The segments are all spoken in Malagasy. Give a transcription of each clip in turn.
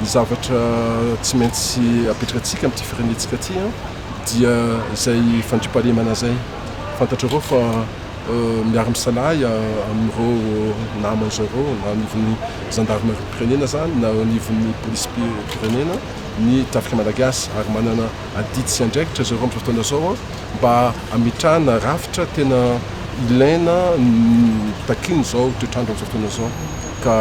Ny zavatra tsy maintsy apetrakantsika amin'ity firenentsika ity dia izay fandriampahalemana izay. Fantatrareo fa miara-misalahy amin'ireo naman'izao ireo na anivon'ny zandarimariam-pirenena izany na anivon'ny polisim-pirenena ny tafika malagasy ary manana adidy sy andraikitra zareo amin'izao fotoana izao mba hametrahana rafitra tena ilaina takian'izao toetr'andro amin'izao fotoana izao ka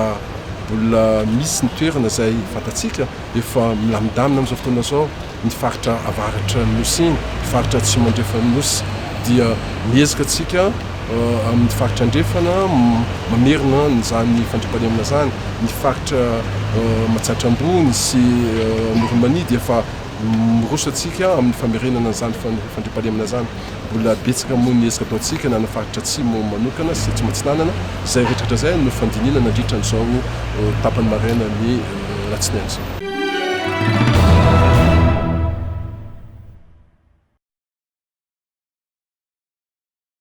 mbola misy ny toerana izay fantatsika efa milamindamina amin'izao fotoana izao ny faritra avaratra ny nosy iny, ny faritra atsimo andrefan'ny nosy dia miezaka antsika eh, amin'ny faritra andrefana mamerina izany fandriampahalemana izany, ny faritra eh, Matsiatra Ambony sy eh, Amoron'i Mania dia efa Miroso antsika amin'ny famerenana an'izany fandriampahalemana izany. Mbola betsaka moa ny ezaka ataontsika na ny faritra Atsimo manokana sy Atsimo Atsinanana. Izay rehetrarehetra izay no fandinihina nandritra an'izao tapany maraina ny alatsinainy izao.